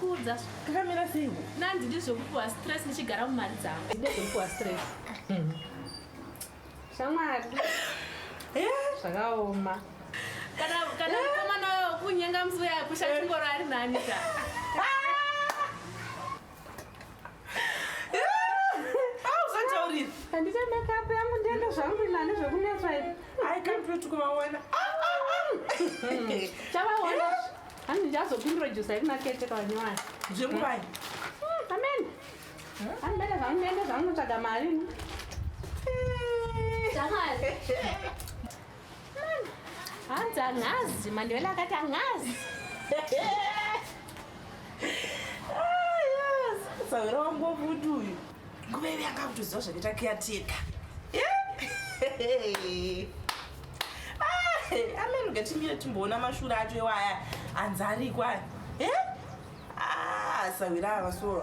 kuudza kakamira sei nanzi ndizvokupuwa stress ndichigara mumari dzangu ndezvokupuwa stress mhm. shamwari eh? zvakaoma kana kana eh? mukomana wayo kunyenga musi uya kusha chingoro ari nani ka handita makeup yangu ndienda zvangu inani zvekunetswa ivi i can't wait kuvaona chavaona hanzi ndichazopintrodusa yekunakete kavanyowani zvekuvai amen handibele zvangu ndiende zvangu tsvaga mari hanzi angazi mandevela akati angazi sahwira wangu wakuti uyu nguva ivi anga kutoziva zvakaita kiyateka amene ngatimire timboona mashura acho iwaya anzi ariko aya ah, sahwira ava soo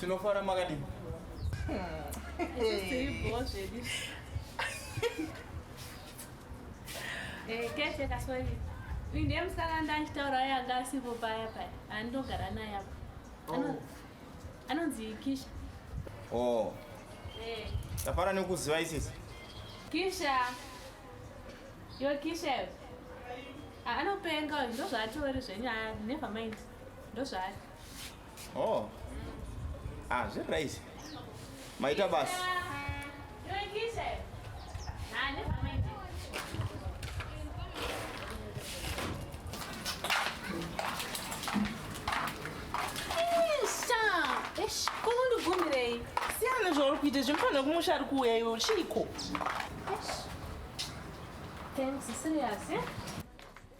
Tinofara makadini? Eh, kete kaswahili. Uyu ndiye musikana ndanditaura aye anga asipo paya paya. Andogara naye apa. Ano- Oh. Anonzi Kisha. Oh, Eh, tafara nekuziva isisi. Kisha. Yo Kisha. iwe. Ah, Anopenga uyu ndozvaatori zvenyu. Ah, never mind. Ndozvaari. Oh. Ah, zviri right. Maita basi. kunondibvumirei siyana zvauri kuita zvimufanira kumusha ari kuuya iwe chiiko Thanks, serious, yeah?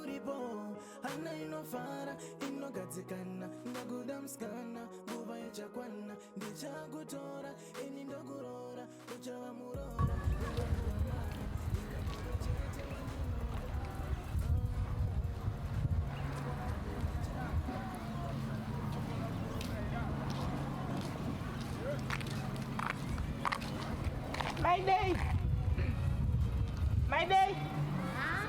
uripo hana inofara inogadzikana ndakuda musikana nguva ichakwana ndichakutora ini ndokuroora uchava muroora My day. My day. Huh?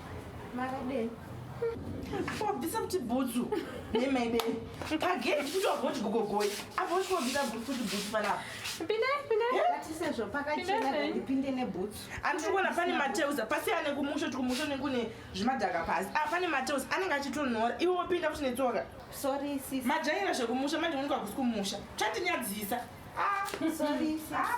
Makadei? Wabvisa kuti bhutsu nemaide pagedhi kuti wagoti gogogoi apo uchi wabvisa kuti bhutsu panapa pindepindeatisezvo pakachena ndipinde nebhutsu andiri kuona pane mateuza pasiyane kumusho ti kumusho nekune zvimadhaka pasi a ah, pane mateuza anenge achitonhora iwe wopinda kuti netsoka sorry sis majaira zvekumusha manje unonika kusi kumusha chandinyadzisa ah, sorry sis ah,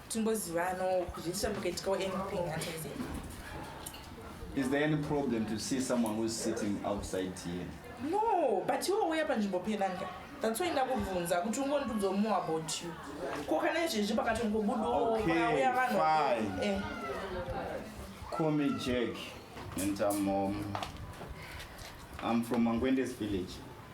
timbozivanawo kuti ndisina mukaitikawo anything hanzi Is there any problem to see someone who's sitting outside here? no but iwe uya panzvimbo penanga that's why ndakubvunza kuti ungondudzawo more about you ko kana izvezvi pakatongobudawo Okay, pakauya vanhu fine. Eh, Call me Jack, and I'm um, I'm from Mangwende's village.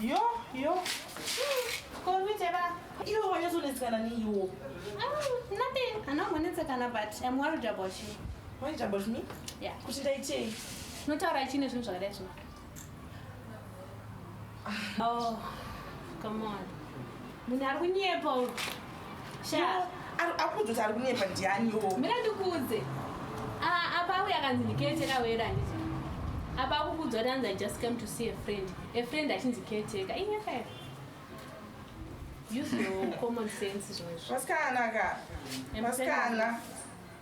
Yo, yo. Komitera. Iwe wanyazonetsekana neiwo. Mm, nothing. Anongonetsekana but I'm worried about you. Worried about me? Yeah. Kuti ndaitei? Unotaura chine zvinhu zvakadai zvino. Ah. Oh, come on. Munhu ari kunyepa uyu. Shaa. Akudzoti ari kunyepa ndiani wo. Mina ndikuudze. Ah, apa uya kanzi ndikete kawera handiti. Apa akukudzwa kuti anzi I just came to see a friend. A friend achinzi caretaker. Inyepa here? Use your common sense zvimwe. Vasikana ka. Vasikana.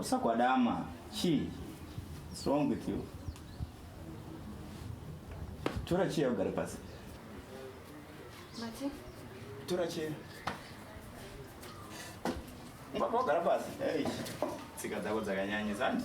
usakwadama chii what's wrong with you tora cheya ugare pasi Mati? tora cheya ungabva wagara pasi hey. tsika dzako dzakanyanyisa handi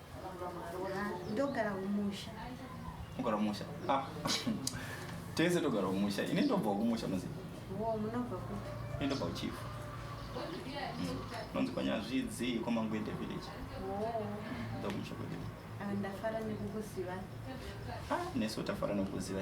ndogara kumusha ogara kumusha ah. tese togara kumusha ini ndobva kumusha muzi munobva kupi ini ndobva kuchifu mm. nonzi kwanyazvidzi kwamangwede village ndokumusha kwede ah, ndafara nekukuziva ah, nesu tafara nekukuziva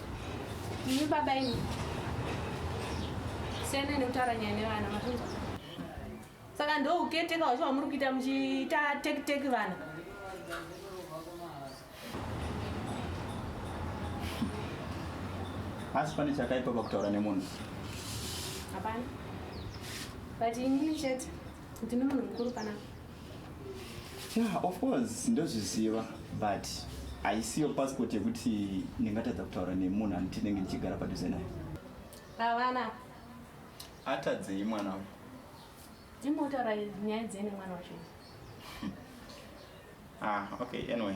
Imi baba imi. Siyana nekutaura nyaya nevana makunzwa. Saka ndo uketeka wacho wamuri kuita muchiita take take vana. Asi pane chakaipa pakutaura nemunhu. Hapana. But ini chete ndine munhu mukuru panapa. yeah of course ndozviziva but haisiyo passport yekuti ndingatadza kutaura nemunhu anoti ndenge ndichigara padhuze naye avana atadzei mwana wangu ndimotaura nyaya dzei nemwana wacho ah okay anyway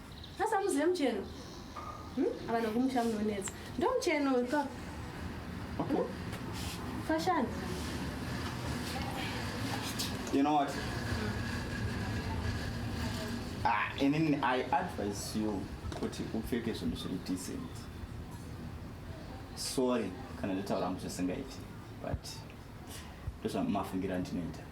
asamuzive mucheno hmm? avana kumusha munonetsa ndomucheno ka hmm? fashani you know what ah, and then i advise you kuti upfeke zvinhu zviri decent sorry kana ndataura hangu zvisingaiti but ndozvamafungira ndinoita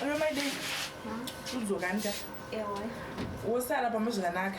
Hello, my day. Udzokani ka? Ewe. Wosara pamwe zvakanaka.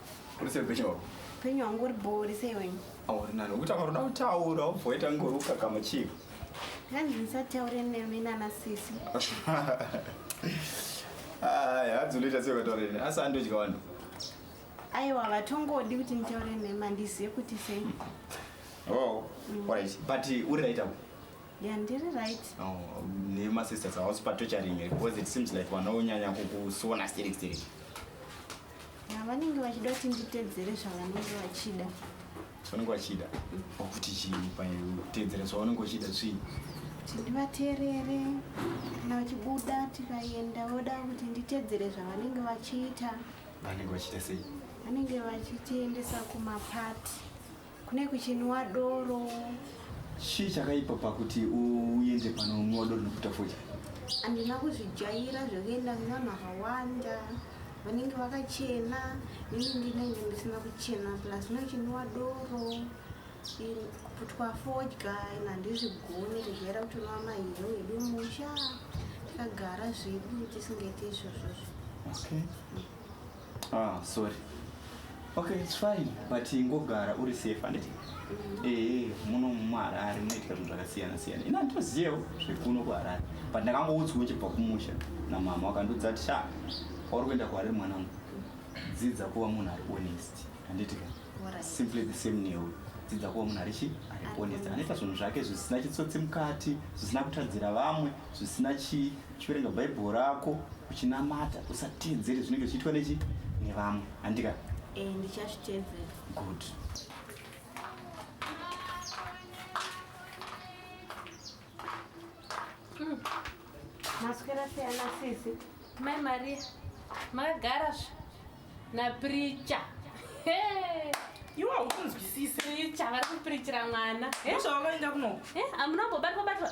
Uri sei upenyu hwako? Upenyu hwangu uri bhori sei wenyu? Auri nani ukuti akaroda kutaura ubvoita ngori ukakama chii? Hanzi ndisataure nemi nana sisi. Aya hanzi unoita sei ukataura neni asi andodya vanhu. Aiwa vatongodi kuti nditaure nemi handizive kuti sei. Oh, mm. alright. But uri right apo? Yeah, ndiri right. Oh, nema sisters are also torturing because it seems like vanonyanya kukusona sterek sterek. vanenge vachida kuti nditedzere zvavanenge vachida zvavanenge vachida kuti chii pautedzera zvavanenge vachida svii ndivateerere kana vachibuda tikaenda voda kuti nditedzere zvavanenge vachiita vanenge vachiita sei vanenge vachitiendesa kumapati kune kuchinwa doro chii chakaipa pakuti uende panonwa doro nekuita foja handina kuzvijaira zvekuenda kuna makawanda vanenge vakachena ini ndinenge ndisina kuchena plus nochinwa doro kuputwa fodya in handizvigoni kujaira kuti unwa mahero edu musha takagara zvedu tisingaite izvozvozvo okay. mm. Ah, sorry. Okay, it's fine. But ingogara uri safe handiti? Mm. Eh, eh muno muHarare munoitika zvinhu zvakasiyana siyana. Ina nditoziyewo zvekuno kuHarare. But ndakangoudzwa uchibva kumusha namama wakandiudza kuti sha kwauri kuenda kuHarare mwana wangu. Dzidza kuva munhu ari honest. Handiti ka? Simply the same newe. Dzidza kuva munhu ari chi? Ari honest. Anoita zvinhu zvake zvisina chitsotsi mukati, zvisina kutadzira vamwe. zvisina chii uchiverenga bhaibheri rako uchinamata usateedzere zvinenge zvichiitwa nechi nevamwe handika eh, ndichazviteedzera good hmm. maswera siyana sisi mai maria makagara zve napricha iwe haukunzwisisi pricha vari kupirichira mwana zvavakaenda kunoku eh, amunombobatwa batwa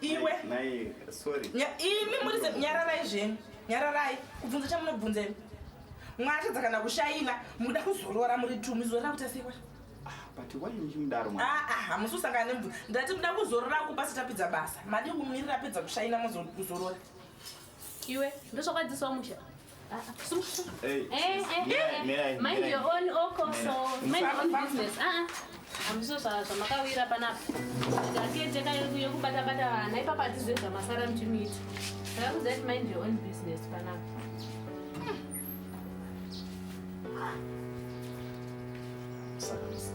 iwe imi muri nyararai zvenyu nyararai kubvunza chamunobvunza imi mwatadza kana kushaina mukuda kuzorora muri tumi zorora kuti asewa hamusi usangana nemvura ndati muda kuzorora kupasi tapedza basa madi kumirira apedza kushaina mozorora iwe ndosvakwadzisawo musha Hey, eh, eh, yeah, eh, eh. mind your own oko oh, so mind your own business ah amuso ah. zvamakawira panapa ndakete yekubata bata vana ipapa atizive zvamasara mchimiita ndakakudza kuti mind your own business panapa Thank you.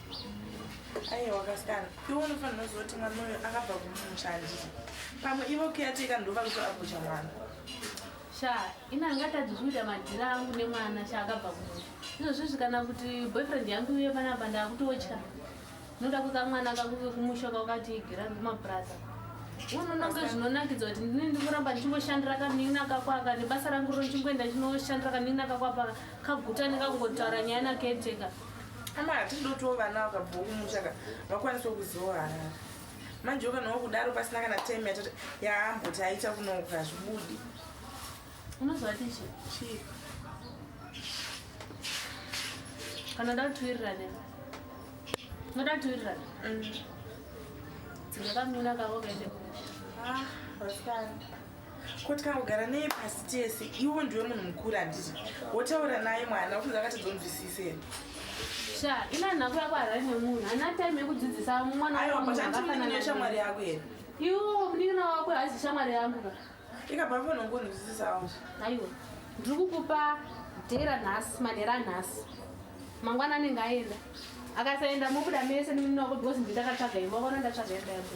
aiwa kasikana iwe unofanira kuziva kuti mwana uyo akabva kumumusha handiti pamwe ivo kuyateka ndova kuto agocha mwana sha ini angatadzi zvikuita madhira angu nemwana sha akabva kumusha izvozvizvi kana kuti boyfriend yangu iye panapa ndakutotya ndinoda kuka mwana kakuke kumusha kwakati igira kumapuraza unononge zvinonakidza kuti ndini ndikuramba ndichingoshandira kanin'ina kakwaka nebasa rangu ro ndichingoenda ndichinoshandira kanin'ina kakwapaka kaguta nekakungotaura nyaya naketeka ka. ama hatidi dotiwo vana vakabvawo kumusha ka vakwanisawo kuzivawo harara manje ukanawo kudaro pasina kana time yatati yaamboti aita kunouka hazvibudi unozovati chi chii kana nda kutiwirirane unoda kutiwirirane mm. dzingakamina kavo kaende kumusha ah, ko tikangogara neye pasi tese iwo ndiwe munhu mukuru handiti wotaura naye mwana ukunzi akatadzonzwisise here sha ina nhako yako harari nemunhu hana time yekudzidzisa mwana aiwa but andimunin'ina shamwari yako here iwo munin'ina wako haizi shamwari yangu ka ikabva panongonzwisisawo aiwa ndiri kukupa dhera nhasi manhera anhasi mangwana anenge aenda akasaenda mobuda mese nemunin'ina wako because ndindakatsvaga imba vona ndatsvaga imba yako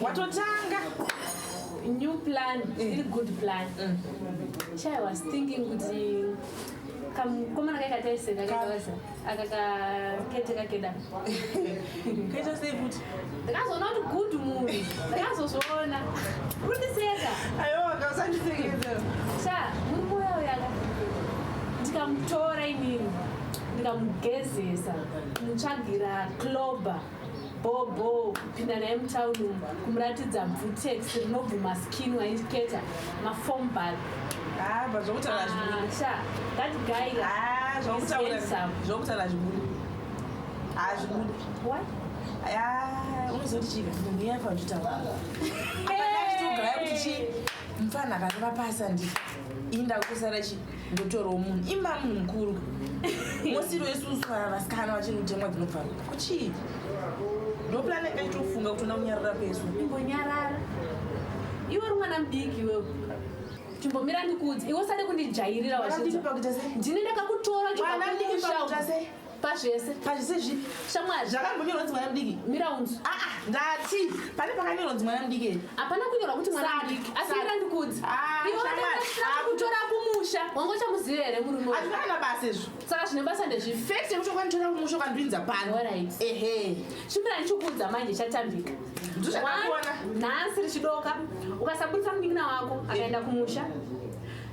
watotanga new plan still mm. good plan mm. chai was thinking kuti kamukomana kai kataiseka kakaza akakakete kakeda kaita sei kuti ndakazoona kuti good munhu ndakazozviona kundiseka aiwa kasandisekeza sa murume uya uyaka ndikamutora inini ndikamugezesa mutsvagira clober bhobho kupinda naye mutown umu kumuratidza bvutex rinobvuma skin waiketa mafombal ah, zvokutaura zvibudi unozoti chii munhu yaifa uchitauraaichitogara kuti chii mfana akareva pasa ndi inda kusara chii ndotorwa munhu imba munhu mukuru mosiro yesusu vasikana vachiri kutemwa dzinobva kuchii ndopulani yanga ichitofunga kuti ona kunyarara kwesu ingonyarara iwe uri mwana mudiki iwewe chimbomira ndikudzi iwe usade kundijairira wazvizva ndine ndakakutora chibva kumusha pazvese pazvese zvipi shamwari zvakambonyorwa kunzi mwana mudiki mira unzi aa ah, ah, ndati pane pakanyorwa kunzi mwana mudiki ere hapana kunyorwa kuti mwana mudiki asi mira ndikudzi ah, iwaakutora kumusha wanga uchamuziva here murume hazvina kana basa izvo saka zvine basa ndezvipi fekt yekuti ukanditora kumusha ukandipinza pano ehe chimira ndichikuudza manje chatambika ndozvakaona nhasi richidoka ukasabudisa munin'ina wako akaenda kumusha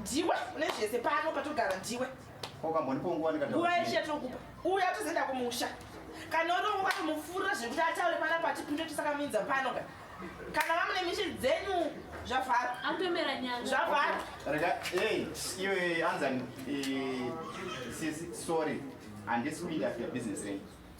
ndiwe une zvese pano patogara ndiwe nguva yeshe yatinokupa uye atozoenda kumusha kana urovo vatomufurira zvekuti ataure pana pati pinde tisakamuinza pano ka kana vamune mishe dzenyu zvavhara atomera nyanga zvavhara rega ei iwe anzani sisi sorry handisi kuinda business renyu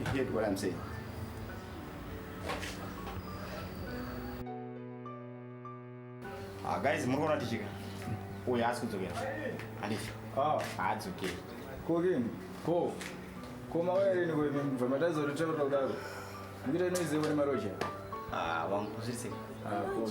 You get what I'm saying? Ah, guys, muri kuona tichika. Uyu haasi kudzokera. Handifi. Ah. Haadzokeri. Ko kini? Ko. Ko mauya rini ko imi mva matadza kuti taura kudaro. Ndikuita inoiziva kune maroja. Ah, wangu kuzirisei. Ah, ko.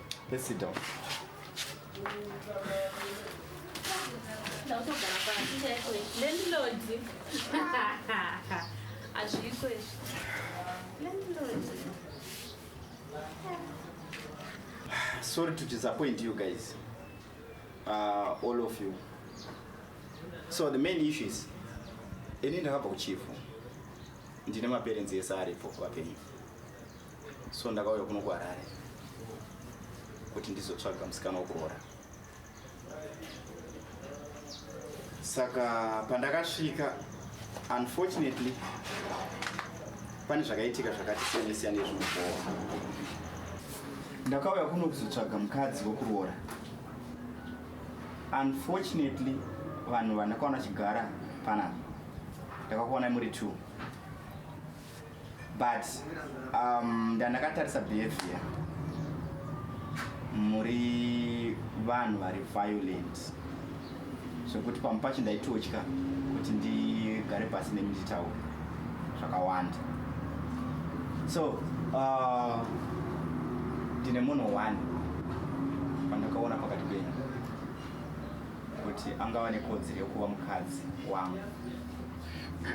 Let's sit down. Sorry to disappoint you guys. Uh, all of you. So the main issue is ini ndakabva kuchifu ndine maperenzi ese aripo vapenyu so ndakauya kuno kuharare kuti ndizotsvaga musikana wekuroora saka pandakasvika unfortunately pane zvakaitika zvakati siyane siyane zvinobowa ndakauya kuno kuzotsvaga mukadzi wekuroora unfortunately vanhu vandakaona chigara panapa ndakakuonai muri two but um, ndandakatarisa behavior muri vanhu vari violent zvekuti pamwe pacho ndaitotya kuti ndigare pasi nemi nditaura zvakawanda so uh, ndine munhu one pandakaona pakati penyu kuti angava nekodzero yekuva mukadzi wangu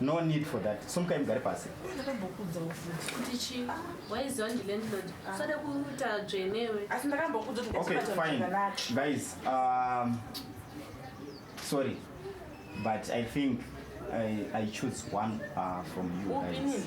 No need for that. Sumukai mugare pasi. Ndakambokuudzawo futi. Kuti chii? Waiziva ndi landlord. Ah. Usade kuita dzvenewe. Asi ndakambokuudza kuti Okay, fine. Guys, um sorry. But I think I I choose one uh, from you guys.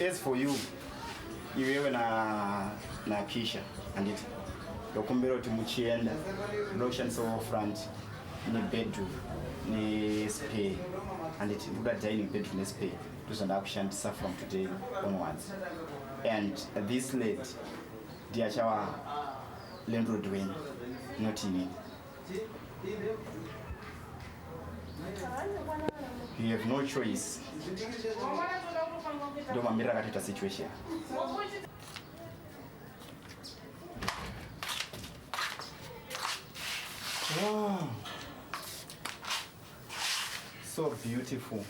As for you, iwewe na na Kisha anditi ndokumbira kuti muchienda munoshandisawo front nebedroom nespare anditi ndoda dining bedroom nespare ndozvandakushandisa from today onwards and this lady Ndiye achava landlord wenyu not ini. You have no choice. Ndio mamiriro akatoita situation. Wow. So beautiful.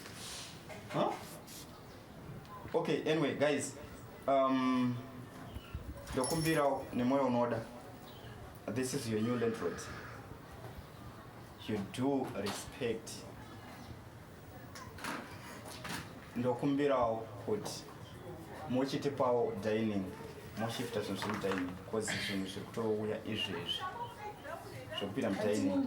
Huh? Okay, anyway guys, um, ndokumbirawo nemoyo unoda this is your new landlord you do respect ndokumbirawo kuti muchitipawo dining moshifta zvinhu zviri mudining bcause zvinhu zviri kutouya izvezvi zvekupinda mudining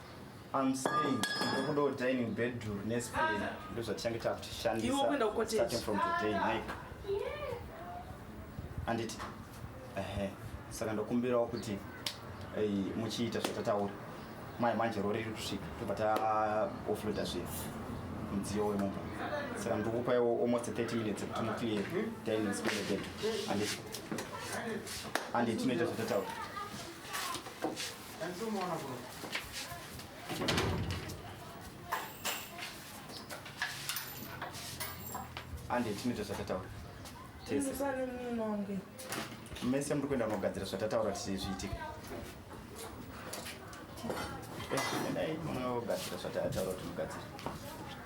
I'm saying ndokuda dining bedroom nespace ndo zvatichange takutishandisa starting from today Mike anditi ehe saka ndokumbirawo kuti muchiita zvatataura mai manje rori riri kusvika tobva taofloda zvinhu mudziyo wemumba saka ndokupaiwo almost 30 minutes kuti muclear dining space bedroom anditi anditi tinoita zvatataura ande tinoita zvatataura tese mese muri kuenda kunogadzira zvatataura tise zviitike endai munogadzira zvatataura kuti mugadzire